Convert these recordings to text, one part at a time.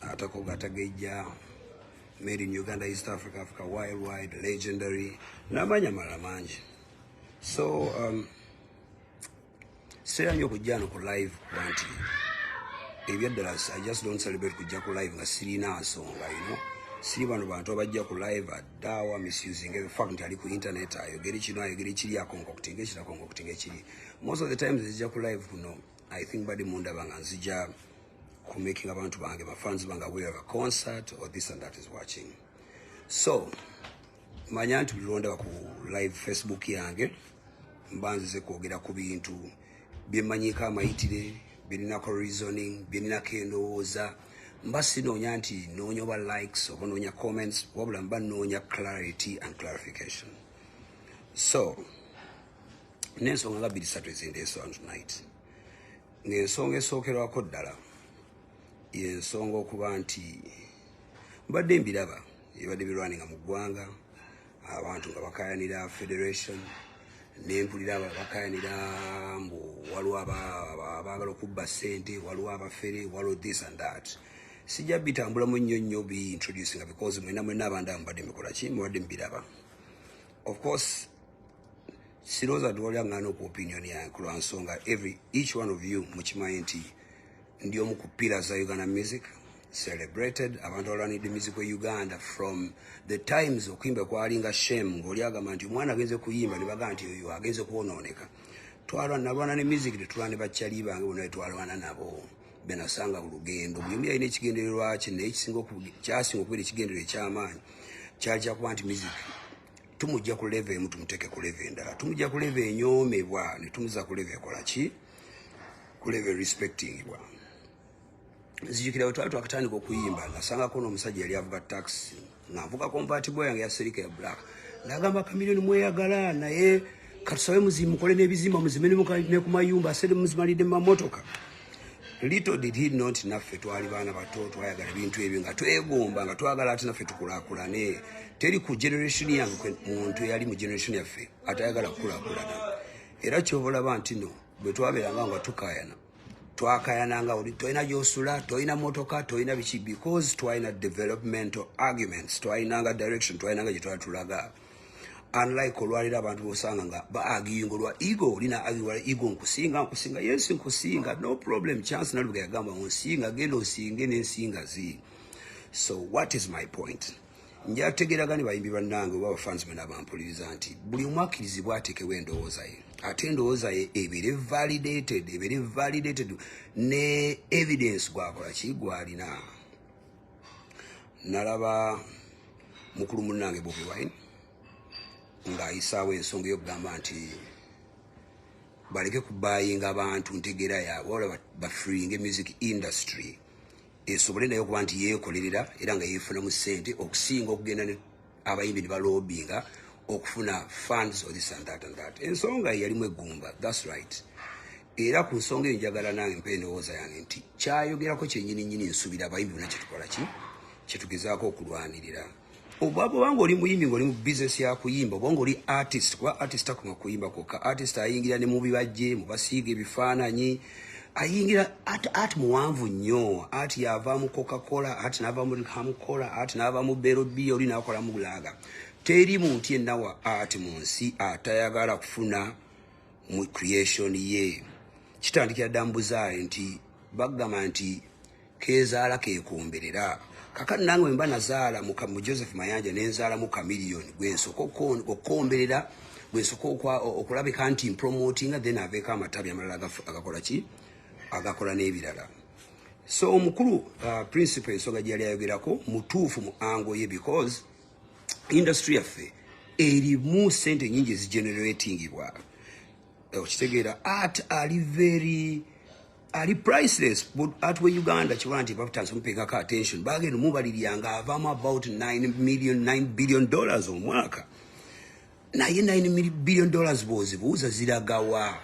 atakoga atagejja made in uganda east africa africa worldwide legendary namanya mala mangi so um, sera nyo okujja no ku live kuba nti ebyaddala i just don't celebrate kujja ku live nga sirina nsonga you know siri bano bantu abajja ku live addawa misusing the fact nti ali ku internet ayogere kino ayogere kiri akonkoktinga ekiri akonkoktinga ekiri most of the times ezijja ku live kuno i think badi mundaba nga nzija ku making abantu bange ba fans bange we have a concert or this and that is watching so manya nti bulondaba ku live facebook yange mba nzize kwogera ku bintu byemanyiko amayitire birinako reasoning birinako endowooza mba sinoonya nti noonya oba likes oba noonya comments wabula mba noonya clarity and clarification so nensonga nga biri satu ezindeesonto night ng'ensonga esookerwako ddala yensonga okuba nti mbadde mbiraba ebibadde birwaninga mu ggwanga abantu nga bakayanira federation nempulira bakayanira mbu waliwo abaagala okubba ssente waliwo abafere waliwo this and that sijja bitambulamu nnyo nnyo biintroducinga because mwena mwena abandi amubadde mikola ki mubadde mubiraba of course siroza tuwalira ngana oku opinion yange kulwa nsonga every each one of you mukimanyi nti ndi omu ku pillars za uganda music celebrated abantu abalwanidde music we uganda from the times okuyimba kwali nga shame ngaoli agamba nti omwana agenze kuyimba ne bagamba nti oyo agenze kwonooneka twalwana nalwana ne music tetulwana ne bakyali bange bona twalwana nabo benasanga ku lugendo buli omu yalina ekigendererwaki naye kyasinga okubeera ekigenderero ekyamaanyi kyali kyakuba nti music tumujja ku level emu tumuteke ku level endala tumujja ku level enyoomebwa ne tumuza ku level ekola ki ku level respectingibwa nzijukira bwe twali twakatandika okuyimba nasangako n'omusajja yali avuga taxi nga nvuga convertible yange ya serika ya black nagamba kamilioni mweyagala naye katusabe muzimukole n'ebizimba muzime ne ku mayumba asede muzimalidde mu mamotoka little did he not naffe twali baana bato twayagala bintu ebyo nga twegomba nga twagala ati naffe tukulakulane teri ku generation yange muntu eyali mu generation yaffe atayagala kukulakulana era kyobolaba nti no bwe twabeeranga nga tukayana twakayananga oli tolina gyosula tolina motoka tolina biki because twalina developmental arguments twalinanga direction twalinanga gyetwatulaga unlike olwaliro abantu bosanga nga baagiyinga olwa ego olina agiwala ego nkusinga nkusinga yes nkusinga no problem chance nalubuga yagamba onsinga genda osinge nensinga zi so what is my point njategeragani bayimbi bannange oba bafans bena bampuliriza nti buli omu akkirizibwa atekewo endowooza ye ate endowooza ye ebere validated ebere validated ne evidence gwakola ki gwalina nalaba mukulu munnange bobi wine ng'ayisaawo ensonga eyokugamba nti baleke kubayinga abantu ntegeera yaabwe wala bafringe music industry esobole naye okuba nti yeekolerera era nga yeefunamu ssente okusinga okugenda abayimbi nebalobinga okufuna funds or this and that and that ensonga yalimu eggumba thats right era ku nsonga eyo njagala nange mpa endowooza yange nti kyayogerako kyenyini nyini nsubira abayimbi bona kyetukola ki kyetugezaako okulwanirira oba bwobanga oli muyimbi ngaoli mu bisiness yakuyimba obanga oli artist kuba artist akuma kuyimba kwokka artist ayingira ne mubibajje mubasiiga ebifaananyi ayingira ati ati muwanvu nnyo ati yava mu coca-cola ati nava mu hamcola ati nava mu berobiya oli nakola mu bulaga teri muntu yenna wa ati mu nsi atayagala kufuna mu creation ye kitandikira dda mbuzaale nti bagamba nti kezaala kekombelera kakati nange wemba nazaala mu mu Joseph Mayanja nenzaala mu Chameleon gwensoka okon- okukomberera gwensoka okwa- o- okulabika nti mpromotinga then aveeko amatabi amalala agaf- agakola ki agakola n'ebirala so omukulu uh, principal ensonga gyeyali ayogerako mutuufu mu ango ye because industry yaffe erimu sente nyingi ezigeneratingibwa okitegeera art ali very ali priceless but at we uganda kiba nti batansi mupekako attention bagenda mubalirya nga avamu about 9 million 9 billion dollars omwaka naye 9 billion dollars bwozibuuza ziragawa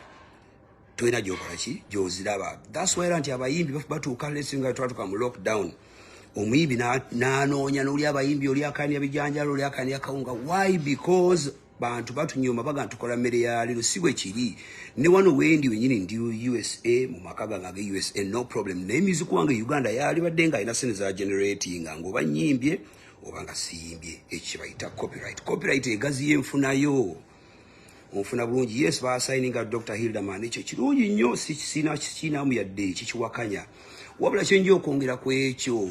tolina gyokolaki gyoziraba thats why era nti abayimbi batuuka lesinga twatuka mu lockdown omuyimbi nanoonya noli abayimbi oli akania bijanjalo oli akania kawunga why because bantu batunyoma baga tukola mmere ya lero si bwe kiri ne wano wendi wenyini ndi usa mu maka gange age usa no problem naye miziku wange uganda yalibadde nga alina sente za generating nga oba nyimbye oba nga siyimbye ekyo kyebayita copyright copyright egaziyo enfunayo onfuna bulungi yes basayininga dr hilderman ekyo kirungi nnyo sikisina kikinamu yadde kikiwakanya wabula kyenja okwongera ku ekyo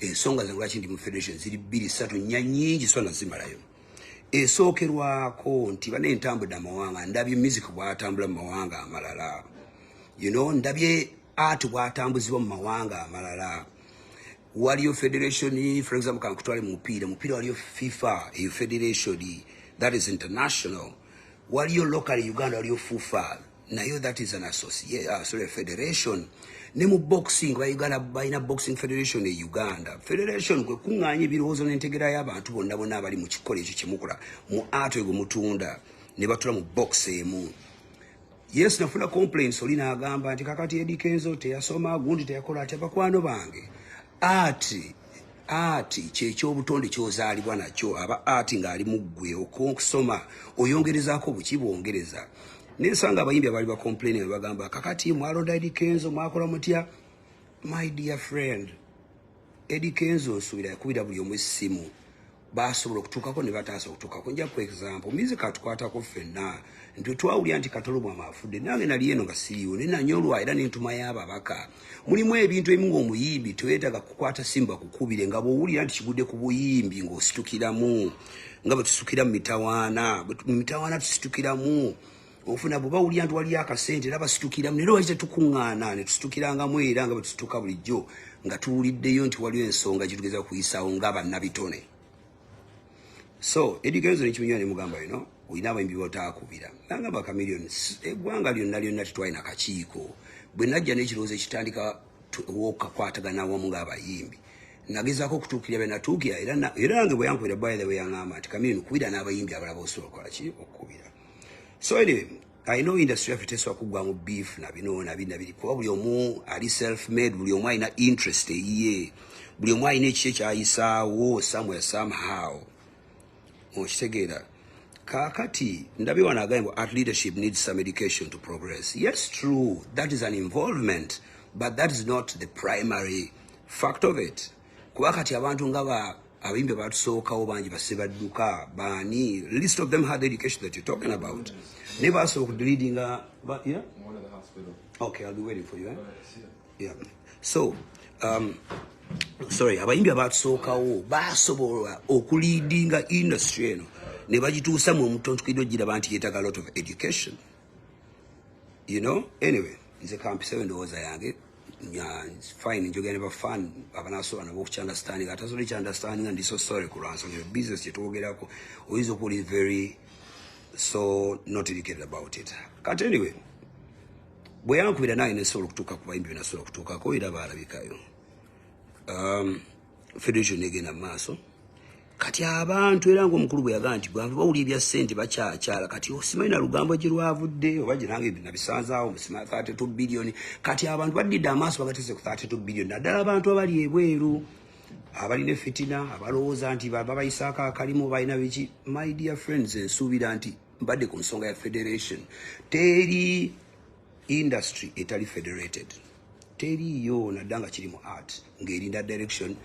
ensonga zange lwaki ndi mu federation ziri bbiri satu nnya nyingi so nazimalayo esookerwako nti bana entambudde amawanga ndabye music bwatambula mu mawanga amalala you know ndabye art bwatambuzibwa mu mawanga amalala waliyo federation for example kankutwale mu mupiira mupiira waliyo fifa eyo federation that is international waliyo local uganda waliyo fufa nayo that is an associate uh, sorry federation ne mu boxing ba Uganda balina boxing federation e Uganda federation kwe kunganya ebirowoozo n'entegera y'abantu bonna bonna abali mu kikolo ekyo kyemukola mu art egwo mutunda ne batula mu box emu yes nafuna complaints oli n'agamba nti kakati Eddie Kenzo teyasoma gundi teyakola atya bakwano bange ati ati kyekyobutonde kyozaalibwa nakyo aba ati ng'ali mu ggwe okusoma oyongerezaako buki bwongereza nensanga abayimbi abaali bacomplaini nga bagamba kakati mwalonda edi kenzo mwakola mutya my dear friend edi kenzo nsuubira yakubira buli omu essimu basobola okutuukako ne bataasa okutuukako nja ku example mizi katukwatako ffenna nti twawulira nti katolobwama afudde nange nali eno nga siriwo ne nanyolwa era nentumayo ababaka mulimu ebintu ebimu ngaomuyimbi teweetaga kukwata simba kukubire nga bwowulira nti kigudde ku buyimbi ng'ositukiramu nga bwe tusukira mu mitawaana mu mitawaana tusitukiramu ofuna bwe bawulira nti waliyo akasente era basitukiramu naye lwaki tetukuŋŋaana ne tusitukirangamu era nga bwe tusituka bulijjo nga tuwuliddeyo nti waliwo ensonga kitugeza kuyisaawo nga bannabitone so edigenzo nekimunywa ne mugamba yino olina abayimbi botaakubira nanga bakamiliyoni eggwanga lyonna lyonna tetwalina kakiiko bwe najja n'ekirowoozo ekitandika wokakwatagana wamu ng'abayimbi nagezaako okutuukirira bye natuukira era nange bwe yankubira bwaire bwe yaŋamba nti kamiliyoni kubira n'abayimbi abalaba osobola okukola ki okukubira so anyway I know industry yaffe tesobola kuggwamu beef na bino na bino biri kuba buli omu ali self made buli omu alina interest eyiye buli omu alina ekiki ekyayisaawo somewhere somehow okitegeera kakati ndabye wano agaye mbu art leadership needs some education to progress yes true that is an involvement but that is not the primary fact of it kuba kati abantu nga ba abayimbi abatusookawo bangi basse badduka baani list of them had education that you're talking about naye basooka okudileadinga yeah? okay i'll be waiting for you eh? yeah. so um, sorry abayimbi abatusookawo basobola okuliidinga industry eno ne bagituusa mu omutontukidde ogira banti yetaga lot of education you know anyway nze kampisewo endowooza yange fine njogera ne bafan abanasobola nabo okukyandastanding atasobola ekyandastandinga ndi so sorry ku lwansonga eyo business kyetwogerako oyinza okuba oli very so not educated about it kati anyway bwe yankubira naye nesobola okutuuka ku bayimbi byenasobola okutuukako era baalabikayo um, federation negenda maaso kati abantu era ngaomukulu bwe yagaa nti bantu bawuli ebya sente bakyakyala kati osimanyi na lugambo gye lwavudde oba ginange nabisanzaawo musima 32 billion kati abantu baddidde amaaso bagatese ku 32 billion naddala abantu abali ebweru abalina efitina abalowooza nti babayisaako akalimu balina biki my dear friends ensuubira nti mbadde ku nsonga ya federation teri industry etali federated teriiyo nadda nga kiri mu art ng'erinda direction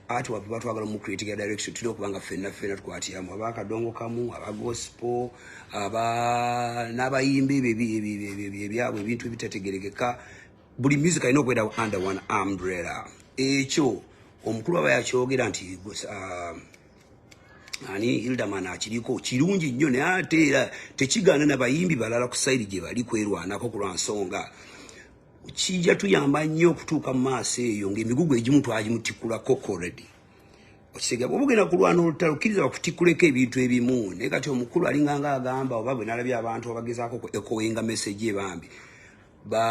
art wava batwagala mu creating ya direction tulina okuba nga ffenna ffenna tukwatiramu aba akadongo kamu aba gospo aba n'abayimba ebyo ebyabwe ebintu ebitategerekeka buli music alina okwenda under one umbrella ekyo omukulu aba yakyogera nti uh, ani hildaman akiriko kirungi nnyo naye ate era tekigaana nabayimbi balala ku sayiri gye bali kwerwanako kulwa nsonga kijja tuyamba nnyo okutuuka mu maaso eyo ng'emigugu egimu twagimutikula kokoredi okitegeera bwoba ogenda kulwana olutalo kkiriza bakutikkuleko ebintu ebimu naye kati omukulu alinganga agamba oba bwe nalabye abantu abagezaako ku ekowenga message ebambi ba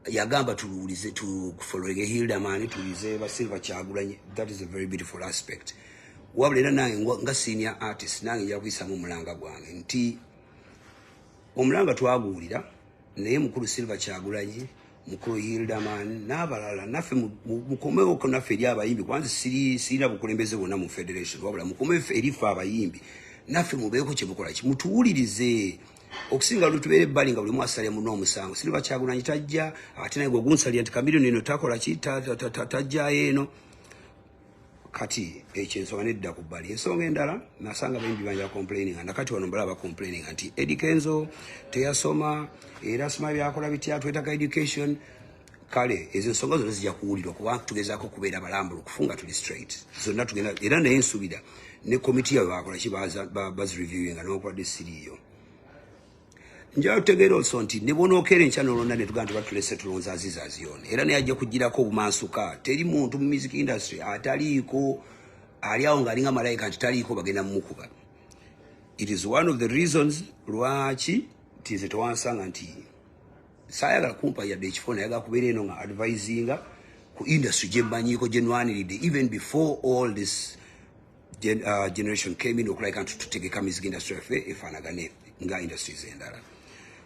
yagamba tuwulize tufolowinge hildamani tuwulize ba silva kyagulanye that is a very beautiful aspect wabula era nange nga senior artist nange njakuyisamu omulanga gwange nti omulanga twaguwulira naye mukulu silver kyagulanyi mukulu hildaman n'abalala naffe mukomewoko naffe eri abayimbi kubanze sirina bukulembeze bwonna mu federation wabula mukome eri ffe abayimbi naffe mubeeko kyemukola ki mutuwulirize okusinga lutubeera ebbali nga buli mwasale muno omusango siriba kyagulanyi tajja ate naye gwegunsalira nti kamirioni eno takola ki tajjayo eno kati ekyo ensonga nedda ku bbali ensonga endala nasanga bayimbi banja complaining nga nakati wano mbala bacomplaining nti edi kenzo teyasoma era sima byakola bitya twetaga education kale ezo ensonga zonna zijja kuwulirwa kuba tugezaako okubeera balambulu kufunga tuli straight zonna tugenda era naye nsubira ne komiti yabwe bakola ki bazireviewinga nokuladde siriiyo njala tutegeera olso nti ne bwonokeera enkya nolonda ne tugamba tubatulese tulonza aziza aziyona era naye ajja kugirako obumansuka teri muntu mu music industry ataliiko ali awo ng'alinga malayika nti taliiko bagenda mumukuba it is one of the reasons lwaki tinze tewansanga nti saayagala kumpa yadde ekifo nayaga kubeera eno nga advisinga ku industry gye mmanyiiko gye nwaniride even before all this Gen, uh, generation came in okulabika nti tutegeka music industry yaffe efaanagane nga industries endala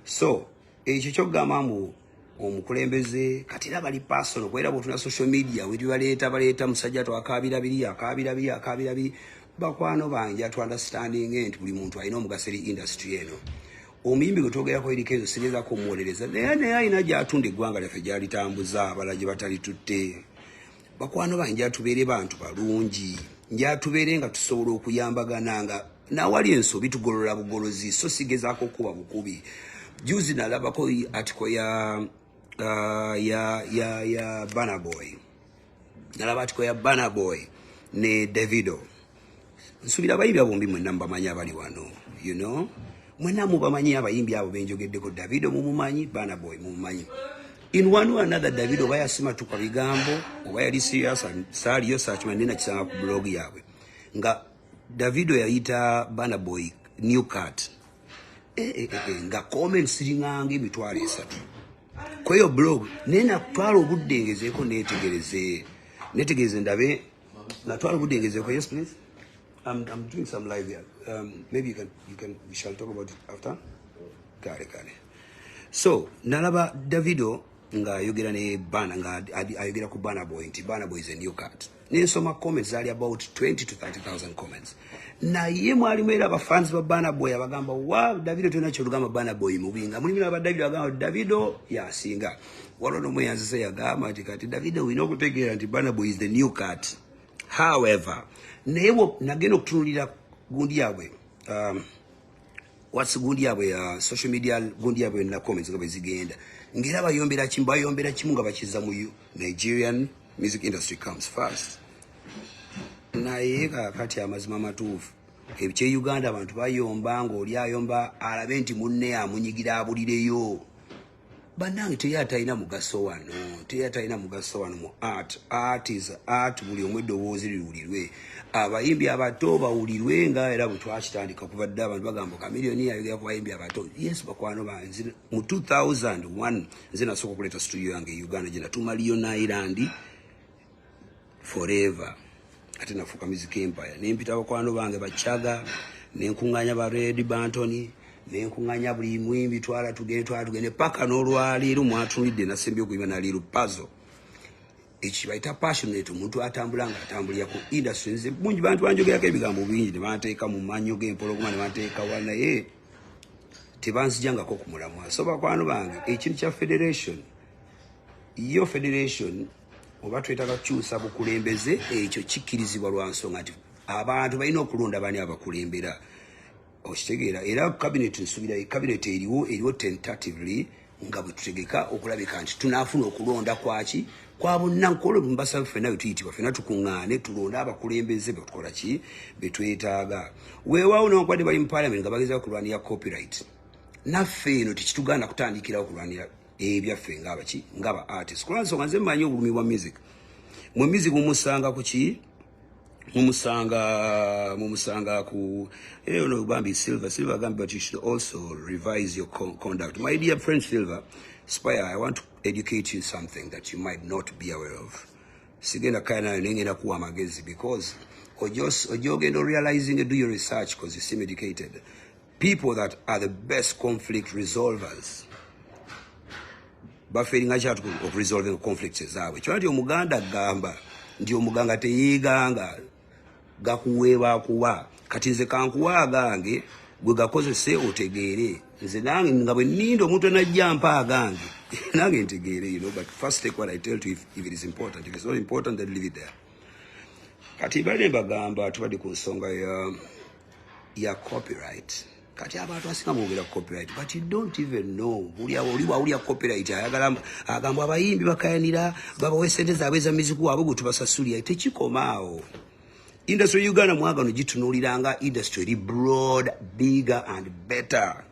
so ekyo kyokugamba mbu omukulembeze kati era bali personal kuba era bwotuna social media wetubaleeta baleeta musajja twakaabira biri akaabira biri akaabira biri bakwano banja to understanding nti buli muntu alina omugaso eri industry eno omuyimbi gwe twogerako eriko ezo sigezaako omuwolereza naye naye alina gyatunda eggwanga lyaffe gyalitambuza abala gye batali tutte bakwano bange atubeere bantu balungi njatubeere nga tusobola okuyambagana nga nawali ensobi tugolola bugolozi so sigezaako kuba bukubi juzi nalabako atiko ya uh, ya ya ya banaboy nalaba atiko ya banaboy ne davido nsubira abayimbi abo bombi mwenna mubamanyi abali wano you know mwenna mubamanyi abayimbi abo benjogeddeko davido mumumanyi bana boy mumumanyi in one way another davido oba yasimatuka bigambo oba yali serious saaliyo sakima nina kisanga ku blog yaabwe nga davido yayita bana boy new cart eh, eh, eh, eh, nga comment siringanga emitwalo esatu kweyo blog naye natwala obudde ngezeeko neetegereze netegereze ndabe Natwala obudde ngezeeko. Yes please. I'm, I'm doing some live here. Um, maybe you can, you can, we shall talk about it after. Kale kale. So, nalaba Davido nga ayogera ne bana nga ayogera ku bana boy nti bana boy is a new cut. Nensoma comments zali about 20 to 30,000 comments. Na ye mwalimu era ba fans ba bana boy abagamba wow Davido tena cholugama bana boy mubinga. Mulimira ba Davido abagamba Davido yasinga. waliwo nomu eyanzise yagamba nti kati davide olina okutegeera nti banabo is the new cat however naye nagenda okutunulira gundi yabwe um, wats gundi yabwe ya uh, social media gundi yabwe yonna comments nga bwezigenda ngaera bayombera kimu bayombera kimu nga bakiza mu nigerian music industry comes first naye kakati amazima matuufu ebikye uganda abantu bayomba ngaoli ayomba alabe nti munne amunyigira abulireyo banange teri atalina mugaso wano teri atalina mugaso wano mu art art is art buli omu eddoboozi liwulirwe abayimbi abato bawulirwe nga era bwe twakitandika kuva dde abantu bagamba kamiliyoni yayogera ku bayimbi abato yes bakwano banzi mu 2001 nze nasooka okuleeta situdio yange e uganda gye natuma lion island forever ate nafuuka mizika empaya nempita bakwano bange bacaga nenkuŋŋanya ba red bantony nenkuŋŋanya buli mwimbi twala tugende twala tugende paka n'olwaleero mwatunulidde nasembi okuyimba naliru pazo ekibayita passionate omuntu atambula nga atambulira ku industry nze bungi bantu banjogerako ebigambo bingi ne banteeka mu manyo g'empologoma ne banteeka wa naye tebanzijangako ku mulamwa so bakwano bange ekintu kya federation yo federation oba twetaga kukyusa bukulembeze ekyo kikkirizibwa lwa nsonga nti abantu balina okulonda bani abakulembera okitegeera era kabineeti nsubira kabineeti eriwo eriwo tentatively nga bwe tutegeka okulabika nti tunaafuna okulonda kwaki kwa bonna nkole mbasaba ffena bwe tuyitibwa ffena tukuŋŋaane tulonde abakulembeze be tukola ki be twetaaga weewaawo newakubadde bali mu palamenti nga bagezao kulwanira copyright naffe eno tekitugaana kutandikirawo kulwanira ebyaffe eh, ngaba ki ngaba artist kwanso kanze manyi obulumi bwa music mu music mumusanga ku ki mumusanga mumusanga ku eh no bambi silver silver gambi but you should also revise your con conduct my dear friend silver spire i want to educate you something that you might not be aware of sigenda kaya nayo nengenda kuwa amagezi because ojogenda realizing do your research because you seem educated people that are the best conflict resolvers baferinga kyatu okuresolving conflicts ezaabwe kyona ti omuganda agamba nti omuganga teyeeganga gakuweebwa kuwa kati nze kankuwa agange gwe gakozese otegeere nze nange nga bwe ninda omuntu enajja mpa agange nange ntegeere you know but first take what i tell to if, if it is important if it's not important then leave it there kati bale mbagamba tubadde ku nsonga ya ya copyright kati abantu asinga bogera copyright but you don't even know bulya oli wawulya copyright ayagala agamba abayimbi bakayanira babawa esente zaabwe eza miziku waabwe gwe tubasasulira tekikoma awo industry uganda mwagano gitunuulira nga industry eri broad bigger and better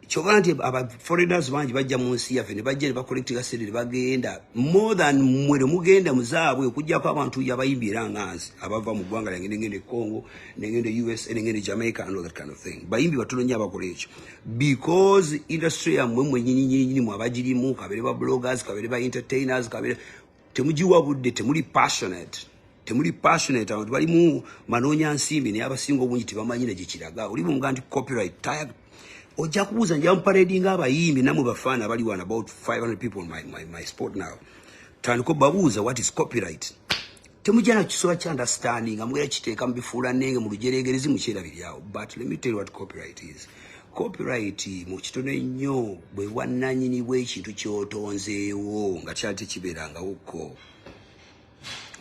kyoba nti aba foreigners bangi bajja mu nsi yaffe ne bajja ne bakolektinga sente ne bagenda more than mwe ne mugenda muzaabwe okujjako abantu yabayimbi era nga nze abava mu ggwanga lyange nengenda e congo nengenda e usa nengenda e jamaica and all that kind of thing bayimbi batono nnyo abakola ekyo because industry yammwe mwenyinyinyini mwe abagirimu kabere ba bloggers kabere ba entertainers kabere temugiwa budde temuli passionate temuli passionate abantu balimu manoonya nsimbi naye abasinga obungi tebamanyi ne gyekiraga oli bumuga nti copyright tag ojja kubuuza njamu paredi nga abayimbi namwe bafaana abali wan about 500 people my, my, my sport now tandika obabuuza what is copyright temujja na kisoba kya understanding amugera kiteeka mubifuula nenge mu lujeregerezi mukyerabiryawo but let me tell you what copyright is Copyright mu kitono ennyo bwe bwannanyini bw'ekintu ky'otonzeewo nga kyali tekibeerangawo ko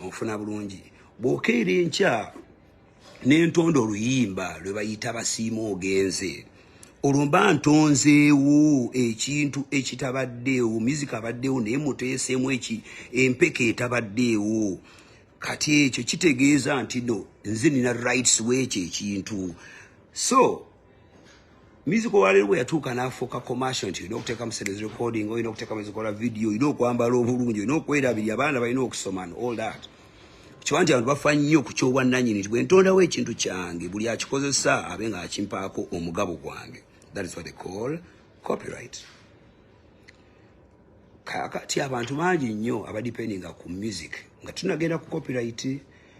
ofuna bulungi bw'okeera enkya n'entonda oluyimba lwe bayita basiima ogenze olwo mba ntonzeewo ekintu ekitabaddeewo mizika abaddeewo naye muteeseemu eki empeke etabaddeewo kati ekyo kitegeeza nti no nze nina rights w'ekyo ekintu so Music wa lero yatuka na foka commercial nti no kuteka msede recording oyo no kuteka msede kola video ino kwamba lo bulungi no kwera bili abana bayino okusoma and all that. Kiwanja abantu bafanyo ku kyo wananyi ni twe ntonda we kintu kyange buli akikozesa abenga akimpako omugabo gwange. That is what they call copyright. kakati abantu bangi nnyo abadependinga ku music nga tunagenda ku copyright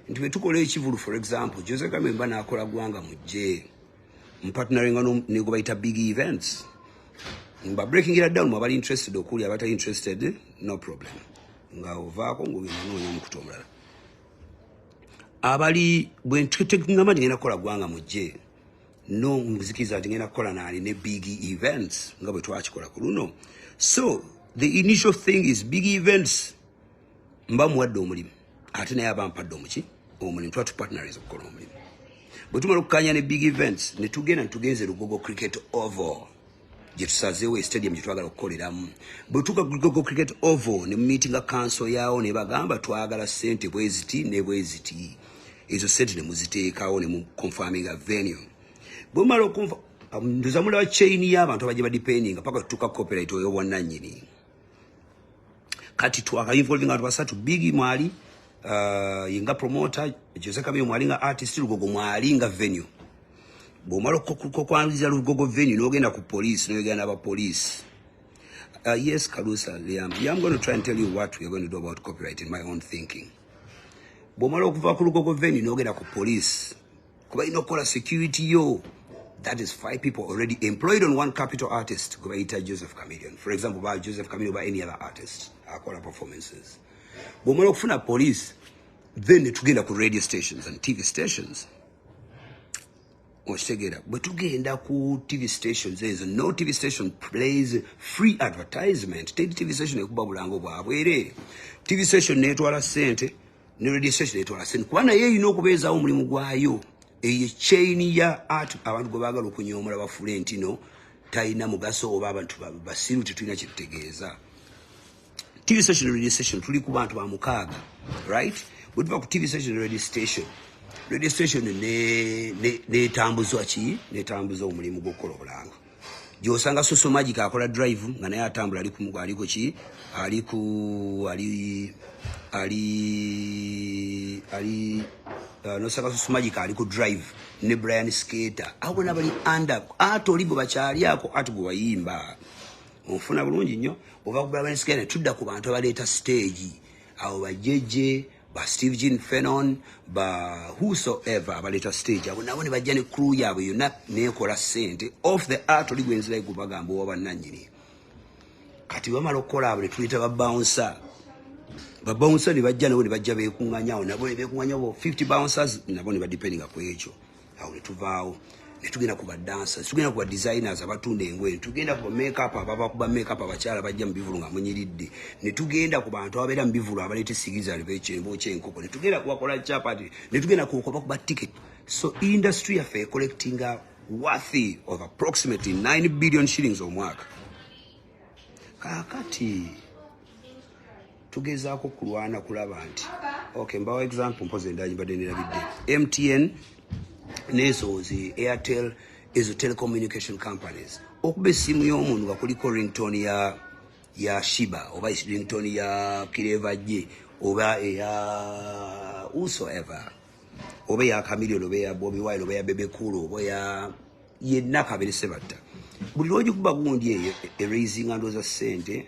nti bwetukola ekivulu for example jose kamemba nakola gwanga mujje mpatunalnga nego bayita big events mba breaking it down mwabali interested okuli abata interested no problem nga ovaako ngaogenanoonya omukutu omulala abali bwentutegamba ndigenda kukola gwanga mujje no muzikiriza nti ngenda kukola naali ne big events nga bwe twakikola ku luno so the initial thing is big events mba muwadde omulimu ate naye aba mpadde omuki omulimu tuba tupartnerize okukola omulimu bwe tumala okukanya ne big events ne tugenda ne tugenze lugogo cricket oval gyetusazeewo e stadium gyetwagala okukoleramu bwetuka gogo cricket oval ne mumitinga kanso yaawo ne bagamba twagala sente bweziti ne bweziti ezo sente ne muziteekawo ne muconfaminga venue bwemala okunfa um, ndoza mulaba chain y'abantu abajja badependinga paka tutuka copyright oyo bwannanyini kati twakainvolving abantu basatu bigi mwali uh, yinga promoter jose kabiyo mwali nga artist lugogo mwali nga venue bwomala okwaniriza lugogo venue nogenda ku police noyogenda aba police uh, yes kalusa liam yeah, i'm going to try and tell you what we're going to do about copyright in my own thinking bwomala okuva ku lugogo venue nogenda ku police kuba ino kola security yo that is five people already employed on one capital artist kuba ita Joseph Chameleon for example ba Joseph Chameleon ba any other artist akola performances bomola kufuna police then tugenda ku radio stations and TV stations okitegera bwe tugenda ku tv stations ezo no tv station plays free advertisement teri tv station ekubabulanga obwabwereere tv station netwala sente ne radio station etwala sente kuba naye erina okubeezaawo omulimu gwayo eyo chain ya art abantu gwe baagala okunyoomola bafuule nti no talina mugaso oba abantu basiru tetulina kyetutegeeza tv station ne radio station tuli ku bantu ba mukaaga right bwe tuva ku tv station ne radio station radio station netambuzwa ki netambuzwa omulimu gw'okukola obulanga gyosanga soso magic akola drive nga naye atambula ali kumugo ali ku ki ali ku ali ali ali uh, nosanga soso magic ali ku drive ne brian skater abo bona bali under ate oli gwe bakyali ako ate gwe wayimba onfuna bulungi nnyo ova ku brian skater tudda ku bantu abaleeta stage awo bajeje ba steve jean fenon ba whosoever abaleta stage abo nabo nebajja ne crew yabwe yonna nekola sente off the art oli gwenzirayo gubagamba owa bannanyini kati bamala okukola abo netuyita babounsa babounsa nebajja nabo nebajja bekuŋanyawo nabo nebekuŋanyawo 50 bouncers nabo nebadependinga ku ekyo awo ne tuvaawo ne tugenda ku badansa tugenda ku badesigners abatunda engoye ne tugenda ku bamekup ababa ku bamekup abakyala bajja mu bivulu nga munyiridde ne tugenda ku bantu ababeera mu bivulu abaleeta esigizali bekyembookya enkoko ne tugenda kubakola chapati ne tugenda kukoba ku baticket so industry yaffe ecollectinga worthy of approximately 9 billion shillings omwaka kakati tugezaako kulwana kulaba nti okay mbawa example mpozi endagi mbadde nerabidde mtn nezo zi airtel ezo telecommunication companies okuba essimu y'omuntu nga kuliko rington ya ya shiba oba rington ya kireva je oba eya usoever oba eya kamilion oba eya bobi wine oba eya bebekulu oba eya yenna kabere sebatta buli lwogikuba gundi eyo eraisinga ndoza sente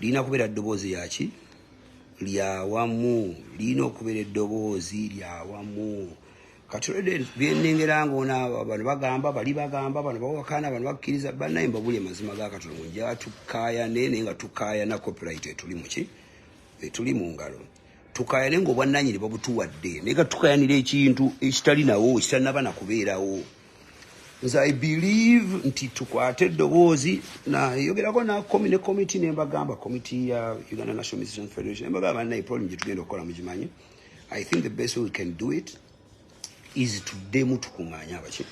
lirina kubeera ddoboozi lyaki lyawamu lirina okubeera eddoboozi lyawamu kati olwedde byenengera nga ona bano bagamba bali bagamba bano bawakana bano bakkiriza banaye mbabuli amazima ga katonda munja tukayane naye nga tukayana copyright etuli muki etuli mu ngalo tukayane nga obwannanyini babutuwadde naye gatukayanira ekintu ekitali nawo kitanaba na kubeerawo nze i believe nti tukwate eddoboozi nayogerako nakomi ne komiti nembagamba komiti ya uganda national musician federation nembagamba banaye problem gyetugenda okukola mugimanyi i think the best way we can do it izi tuddemu tukuŋŋaanye abaki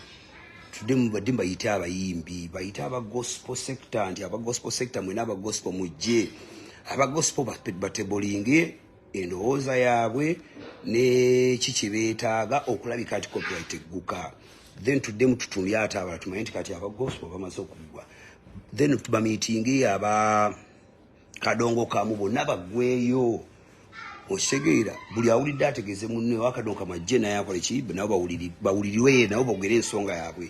tuddemu badimba yite abayimbi bayite aba gospel sector nti aba gospel sector mwena aba gospel mujje aba gospel batebolinge endowooza yaabwe neki kyebeetaaga okulabika nti copyright egguka then tuddemu tutumbye ate abala tumanye nti kati aba gospel bamaze okuggwa then bamitinge aba kadongo kamu bonna bagweyo osegeera buli awulidde ategeze munne wakadongo kamu ajje naye akole ki nabo bawuliriwe nabo bogere ensonga yabwe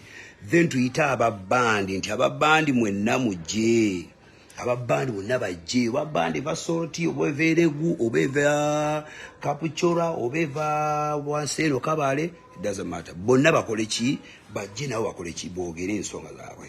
then tuyite ababandi nti ababandi mwenna mujje ababandi bonna bajje oba bandi eva sorti oba eva eregu oba eva kapucora oba eva wanseero kabale dazamata bonna bakole ki bajje nabo bakole ki bogere ensonga zabwe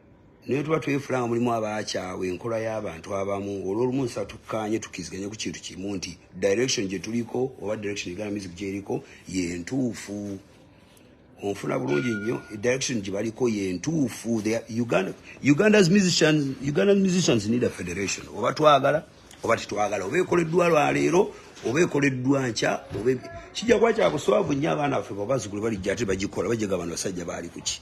naye tuba twefula nga mulimu abaakyawa enkola y'abantu abamu olwolumu nsa tukkaanye tukiriziganye ku kintu kimu nti direction gye tuliko oba direction egana music gyeriko yentuufu onfuna bulungi nnyo direction gye baliko yentuufu uganda's musicians uganda's musicians need a federation oba twagala oba tetwagala oba ekoleddwa lwaleero oba ekoleddwa nkya oba kijja kuba kyakuswavu nnyo abaana baffe babazukulu balijja ate bagikola bajega abantu basajja baali kuki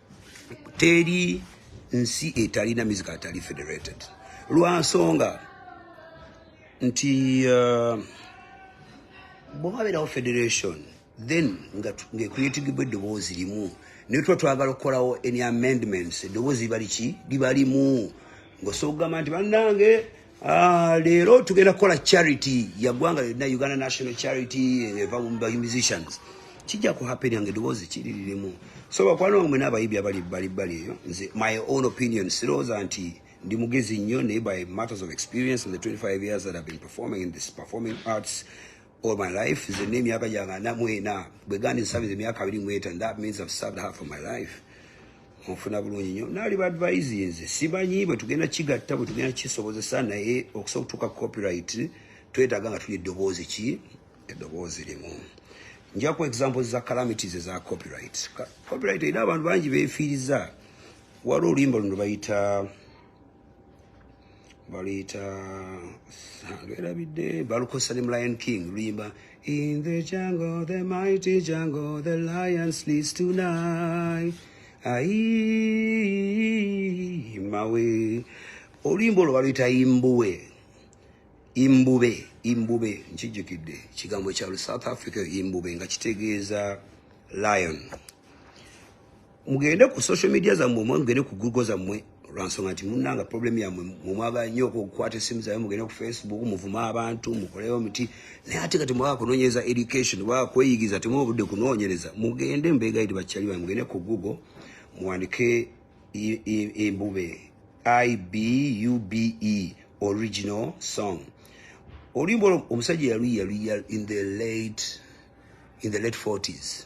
teri nsi etalina music atali federated lwansonga nti uh, bwewabeerawo federation then ngecreatigibwa eddoboozi limu naye tuba twagala okukolawo any amendments eddoboozi liba liki liba limu ngaosobola okugamba nti bannange Ah, leero tugenda kukola charity yagwanga lyonna uganda national charity eh, eva by musicians kijja ku happen yange eddoboozi kiriririmu so bakwano wange mwena abayibi abali bali bali eyo nze my own opinion sirowooza nti ndi mugezi nnyo naye by matters of experience in the 25 years that have been performing in this performing arts all my life nze ne emyaka gyange ana mu ena bwe gandi nsabiza emyaka abiri mu etaano that means i've served her for my life onfuna bulungi nnyo naali baadvise nze simanyi bwe tugenda kigatta bwe tugenda kisobozesa naye okusobola okutuuka copyright twetaaga nga tuli eddoboozi ki eddoboozi limu njaku examples za calamities eza copyright copyright erina abantu bangi beefiiriza waliwo oluyimba luno bayita baluyita lwerabidde balukozesa ne mlion king luyimba in the jungle the mighty jungle the lion sleeps tonight ai mawe oluyimba olwo baluyita imbuwe imbube imbube nkijjukidde kigambo kya south africa imbube nga kitegeeza lion mugende ku social media zammwe omwe mugende ku google zammwe lwansonga nti munanga problem yamwe mumwagala nnyo okukwata essimu zabe mugende ku facebook muvuma abantu mukolewo muti naye ate kati mwaka kunonyereza education waka kweyigiza temu obudde kunonyereza mugende mbegaidi bakyali bange mugende ku google muwandike embube ibube original song oluyimba olwo omusajja yaluyiyaluyiya in the late in the late 40s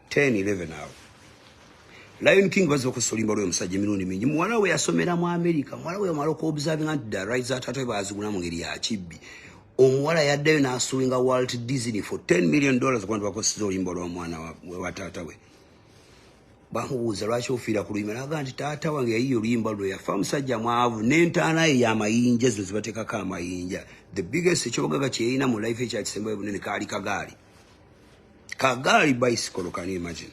10 11 awo lion king baze okusolimba lwe musajja emirundi mingi muwala we yasomera mu america muwala we yamala okuobservinga nti the rights ataata we baazigula mu ngeri ya kibbi omuwala yaddayo n'asuwinga walt disney for 10 million dollars kubantu bakoseza oluyimba olw'omwana wa taata we bamubuuza lwaki ofiira ku luyimba naga nti taata wange yayiye oluyimba luno yafa musajja mwavu n'entaana ye yamayinja zino zibateekako amayinja the biggest ekyogaga kyeyina mu life ekyakisembayo bunene kaali kagaali kagaali bicycle can you imagine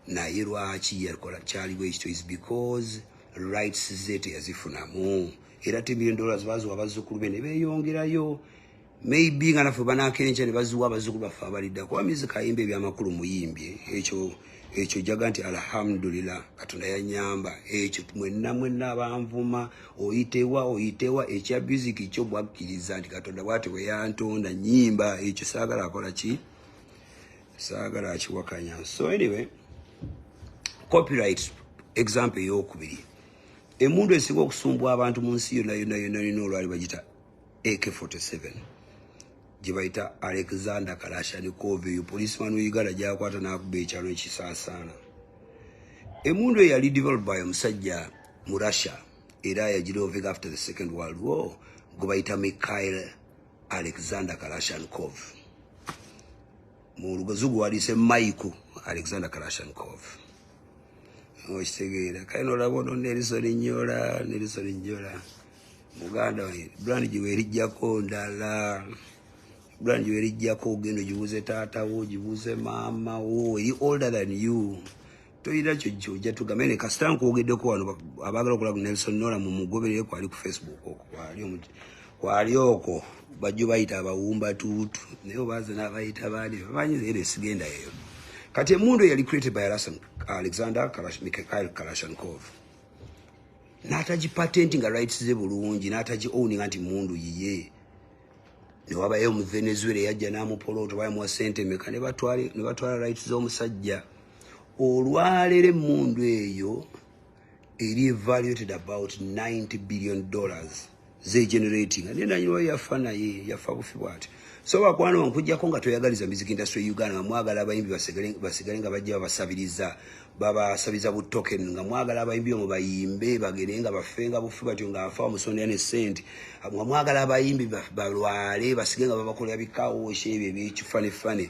naye lwaki yakola kyali bwekityo is because rights ze teyazifunamu era te million dollars baziwa abazzukulu be ne beeyongerayo maybe nga naffe banakenca ne baziwa abazzukulu baffe abalidda kuba mizi kayimba ebyamakulu muyimbye ekyo ekyo jaga nti alhamdulillah katonda yanyamba ekyo mwenna mwenna abanvuma oyitewa oyitewa ekya music kyo mwakkiriza nti katonda bwati weyantonda nyimba ekyo saagala akola ki saagala akiwakanya so anyway copyright example eyokubiri emundu esinga okusumbwa abantu mu nsi yona yona yona yona olwali bagita ak 47 gyebayita alexander kalashanikov eyo policeman weuganda gyakwata nakuba ekyalo ekisaasaana emundu eyo yali develop by omusajja mu russia era yagiroving after the second world war gwebayita mikhail alexander kalashanikov mu lugozugu waliise maiku alexander kalashanikov okitegeera kale nolaba ono nelson nyola nelson nyola muganda we brand gye weerijjako ndala brand gye weerijjako ogenda ogibuuze taata wo ogibuuze maama wo eri older than you toyina kyo kyoja tugambe ne kasita nkwogeddeko wano abaagala okola ku nelson nola mu mugoberere kwali ku facebook oko kwali omuti kwali oko bajjo bayita abawumba tuutu naye obaaze n'abayita baani bamanyi era esigenda eyo kati emundu eyali created by alexander kalashnikov n'atagi patenti nga rights ze bulungi n'atagi owninga nti mundu yiye newabayo mu venezuela eyajja n'amupolooto bayamuwa sente meka ne batwala rights z'omusajja olwalero emundu eyo eri evaluated about 90 billion dollars ze generating ne nanyini wa yafa naye yafa bufi bwati so bakwana onkujjako nga toyagaliza music industry ya uganda nga mwagala abayimbi basigale basigale nga bajja babasabiriza babasabiza bu token nga mwagala abayimbi omu bayimbe bagere nga bafe nga bufi batyo nga afa omusondera ne sente nga mwagala abayimbi balwale basige nga babakolera bikawoshe ebyo ebyekifanefane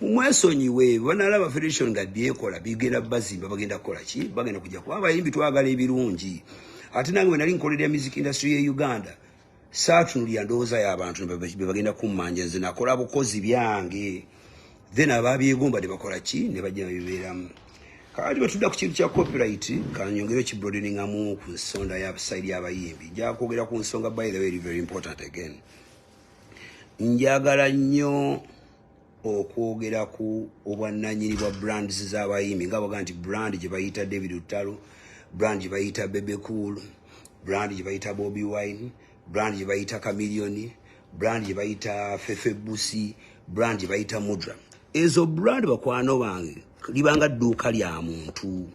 mumwesonyiwe banalaba federation nga byekola bigenda bazimba bagenda kukola ki bagenda kujja kuba abayimbi twagala ebirungi ate nange wenali nkolera music industry ye uganda saatunulira ndowooza y'abantu bebagenda kummanja nze nakola bukozi byange then ababyegomba ne bakola ki ne bajja bibeeramu kati bwetudda ku kintu kya copyright kanyongere okibrodeningamu ku nsonda ya saidi y'abayimbi njakwogera ku nsonga by the way very important again njagala nnyo okwogera ku obwannanyini bwa brands z'abayimbi nga baga nti brand gye bayita david lutalo brand gye bayita bebe cool brand gye bayita bobi wine brand gye bayita camilioni brand gye bayita fefe busi brand gye bayita mudra ezo brand bakwano bange libanga dduuka lya muntu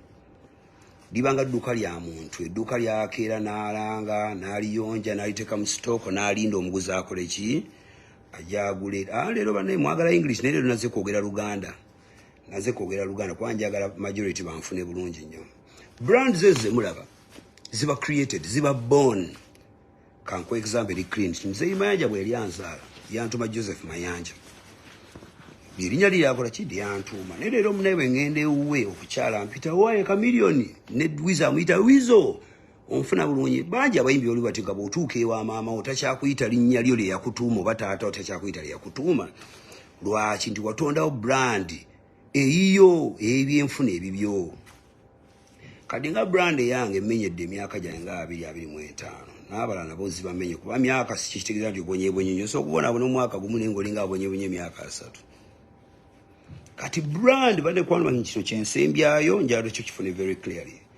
libanga dduuka lya muntu edduuka lyakeera n'alanga n'aliyonja n'aliteeka mu sitooko n'alinda omuguzi akole ki ajagule ah lero banaye mwagala english naye lero naze kwogera luganda naze kwogera luganda kuba njagala majority banfune bulungi nnyo brand zezo zemulaba ziba created ziba born kanku example eri clean mzeyi mayanja bwe yali anzaala yantuma joseph mayanja lyerinya lye yakola ki lyantuma naye lero munaye bwe ngenda ewuwe okukyala mpita waye kamiliyoni ne wiza amuyita wizo onfuna bulungi bangi abayimbi oli bati nga bwotuuka ewa maama wo takyakuyita linnya lyo lyeyakutuuma oba taata wo takyakuyita lyeyakutuuma lwaki nti watondawo brand eyiyo eyebyenfuna ebibyo kati nga brand eyange emenyedde emyaka gyange nga abiri abiri mu etaano n'abalala nabo zibamenye kuba myaka sikitegeeza nti obonyebonye nyo so okubona abona omwaka gumu naye ngaoli nga abonyebonye emyaka asatu kati brand bade kwanuma kino kyensembyayo njalo kyo kifune very clearly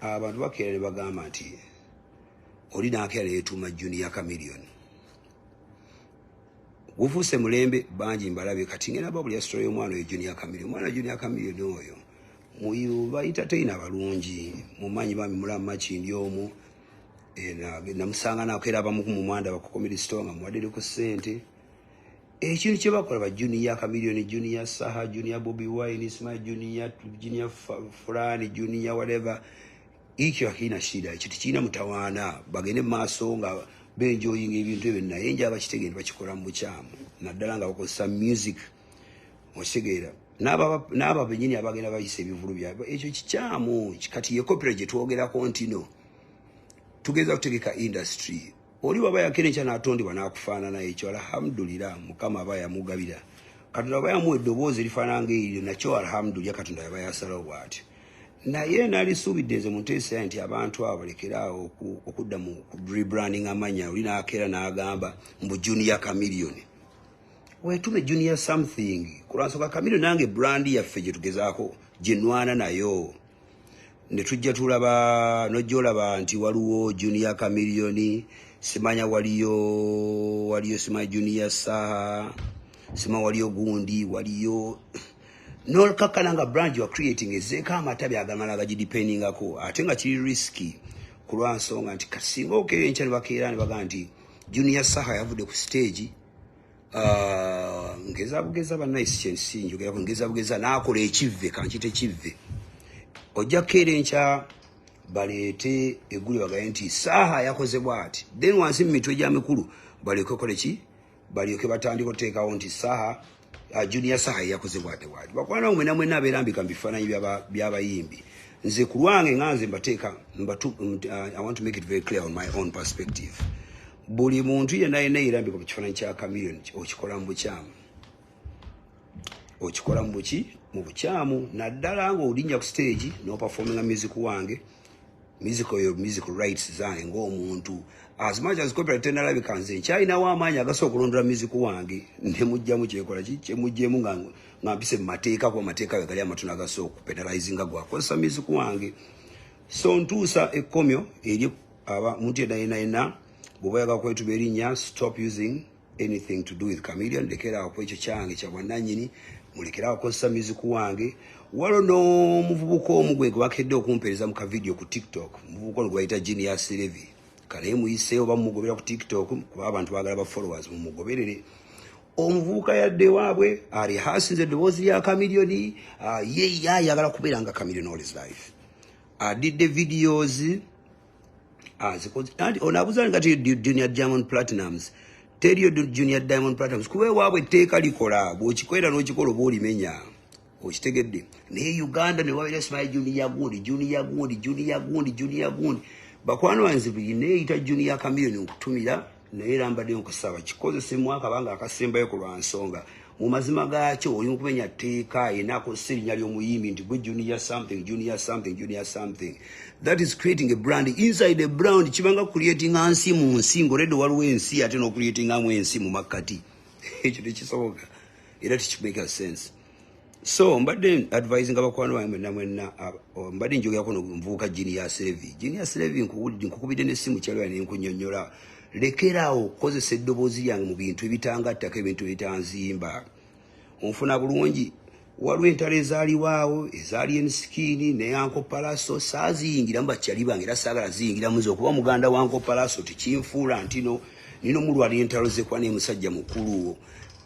abantu bakeera ne bagamba nti oli nakeera yetuuma junior camilion gufuuse mulembe bangi mbalabe kati ngena babulya sitole y'omwana oyo junior camilion omwana junior camilion oyo muyu bayitateyina balungi mumanyi bambi mulamu makindi omu eh, namusanga nakeera abamuku mumwanda bakukomere sitole nga muwaddereku ssente ekintu kyebakola ba junior kamilioni junior saha junior bobi wine isma junior junior fulani junior whatever ekyo akirina shida ekyo tekirina mutawaana bagende maaso nga benjoyinga ebintu ebyo naye nja bakitegende bakikola mu bukyamu naddala nga bakozesa music okitegeera n'abo benyini abagenda bayisa ebivulu byabwe ekyo kikyamu kati ye kopira gyetwogerako ntino tugeza kutegeka industry oli waba yakera ekya natondebwa nakufaanana ekyo alhamdulira mukama aba yamugabira katonda aba yamuwa eddoboozi erifaanana nga eriryo nakyo alhamdulira katonda yaba yasalawo bwatyo naye nalisuubidde nze munteesa nti abantu abo balekeraawo okudda mu rebranding amanya oli nakeera nagamba mbu junior camilion wetume junior something kulwansonga camilion nange brand yaffe gyetugezaako gyenwana nayo netujja tulaba nojolaba nti waliwo junior kamiliyoni simanya waliyo waliyo sima junior saha sima waliyo gundi waliyo nolkakkana nga brand yoa creating ezeeko amatabi agamala agagidipendingako ate nga kiri riski kulwa nsonga nti kasinga okeyo enkya nebakeera nebaga nti junior saha yavudde ku stage Ah, ngeza bugeza banaye sikyensi njogera ngeza bugeza nakola ekivve kankite kivve ojja kukeera enkya baleete egguli bagaye nti saaha yakoze bwati then wansi mu mitwe gya mikulu balyoke kole ki balyoke batandika oteekawo nti saaha ah, junior saaha yeyakoze bwati bwati bakwana mwe namwe naberambika mu bifaananyi byabayimbi nze ku lwange nga nze mbateeka ah, i want to make it very clear on my own perspective buli muntu yena yena eyirambika mu kifaananyi kya kamiliyoni okikola mu bukyamu okikola mu buki mu bukyamu naddala nga olinnya ku siteegi n'opafominga music wange music oyo music rights zange ng'omuntu as much as copyright tenalabika nze nkyalinawo amaanyi agasa okulondola music wange nemujjamu kyekola ki kyemujjemu nga nga mpise mu mateeka kuba amateeka we gali amatono agasa okupenalizinga gwakozesa music wange so ntuusa ekkomyo eri aba muntu yenna yenna yenna bw'oba yaga kwetuba erinnya stop using anything to do with chameleon lekerawo ku ekyo kyange kya bwannannyini mulekerawo kozesa muziku wange walo n'omuvubuka omu gwe gwebakedde okumpeereza mu kavidiyo ku tiktok omuvubuka ono gwebayita jini ya serevi kanaye muyiseewo bamumugobera ku tiktok kuba abantu bagala ba followers mumugoberere omuvubuka yadde waabwe alihasinze eddoboozi lya chameleon ah, ye yayagala kubeera nga chameleon all his life I did the videos as and on abuza nga ti junior diamond platinums tell you junior diamond platinums kuwe wabwe teka likola bo chikwera no chikolo bo limenya o chitegedde ne uganda ne wabele smile junior gundi junior gundi junior gundi junior gundi bakwano anzi bi ne ita junior chameleon okutumira naye era mbadde nkusaba kikozese mu akabanga akasembayo ku lwa nsonga mu mazima gaakyo oli mu kumenya tteeka yena akozesa erinnya ly'omuyimbi nti gwe junior something junior something junior something that is creating a brand inside a brand kibanga creatinga nsi mu nsi ngaoledde waliwo ensi ate n'okureatingamu ensi mu makkati ekyo tekisoboka era tekimaker sense so mbadde advise nga bakwano bange mwenna mwenna mbadde njogerako nomuvubuka genius levi genius levi nkukubidde nesimu kyalwera nenkunyonyola lekeraawo okukozesa eddoboozi lyange mu bintu ebitangattako ebintu ebitanzimba onfuna bulungi waliwo entalo ezaaliwaawo ezaali ensikiini neyankopalaso saaziyingiramu bakyali bange era saagala ziyingiramu ze okuba muganda wankopalaso tekinfuula ntino nina omulwalira entalo zekuba nemusajja mukuluwo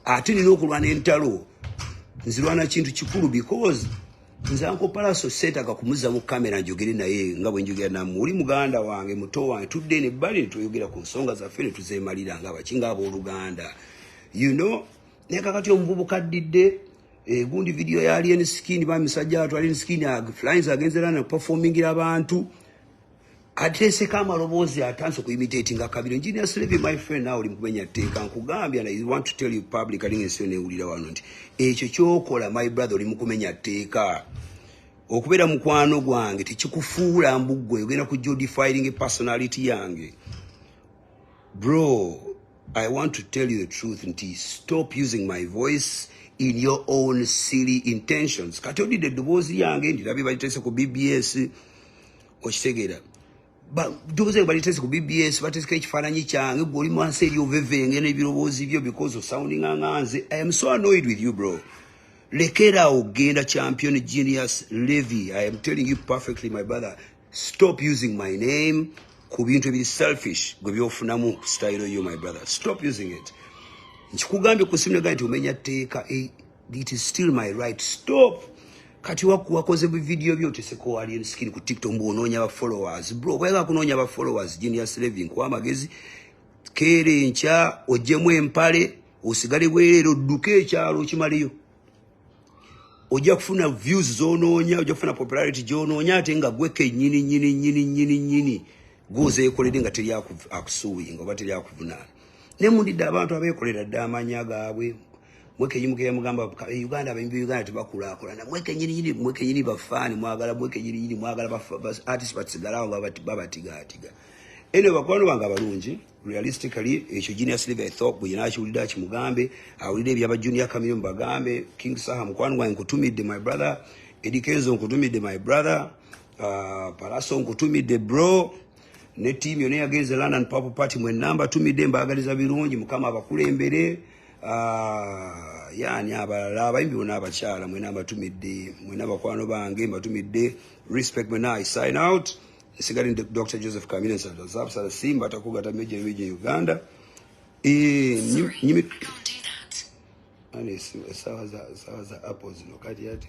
ate nina okulwana entalo nzirwana kintu kikulu because nze anko palaso seetaga kumuza mu kamera njogere naye nga bwe njogera namu oli muganda wange muto wange tudde ne bbali ne tweyogera ku nsonga zaffe ne tuzeemalira nga baki nga abooluganda you know naye kakati omuvubuka addidde egundi eh, vidiyo ya alien skin bamisajja watu alien skin flyings agenze lana performingira abantu ateeseko amaloboozi atanse okuimitatinga kabira enginia sleve my friend nawe oli mukumenya tteeka nkugambye and i want to tell you public alinga ensi yona ewulira wano nti ekyo kyokola my brother oli mukumenya tteeka okubeera mukwano gwange tekikufuula mbuggwe ogenda ku jodifiring personality yange bro i want to tell you the truth nti stop using my voice in your own silly intentions kati odidde eddoboozi yange ndirabye baliteese ku bbs okitegeera doze balitese ku bbs bateseka ekifaananyi kyange gwe oli mwansi eri ovevenge n'ebirowoozi byo because of sounding anganze i am so annoyed with you bro lekera awo genda champion genius levy i am telling you perfectly my brother stop using my name ku bintu ebiri selfish gwe byofunamu style yo my brother stop using it nkikugambye ku simu negambye nti omenya tteeka It is still my right. Stop. Kati waku wakoze bu video byo tese ko ali en skin ku TikTok mbu ononya ba followers. Bro, bwe ga kunonya ba followers genius living kwa magezi. Kere ncha ojemu empale osigale bwerero duke ekyalo kimaliyo. Oja kufuna views zononya, oja kufuna popularity jononya atenga gweke nyini nyini nyini nyini nyini. Goze ekolede nga teri akusuwi, nga bateri akuvuna. Nemundida abantu abekolera damanyaga abwe. mweke yimukira mugamba e Uganda abembi Uganda tebakula kola na mweke nyini nyini mweke nyini bafani mwagala mweke nyini nyini mwagala bafa bas artist but sigala wa baba baba tiga tiga ene bakwano banga balungi realistically echo genius live i thought buyina achulida chimugambe awulide byaba junior kamyo mbagambe king saha mkwano wa nkutumide my brother edikenzo nkutumide my brother uh, palaso nkutumide bro ne team yone yagenze london purple party mwe number tumide mbagaliza birungi mukama abakulembere Ah, yani abalala abayimbi bona abakyala mwena mbatumidde mwena bakwano bange mbatumidde respect mwena i sign out nsigale ndi dr joseph kamine sazabsala simba atakugata meja meja e uganda esawa za apple zino kati ati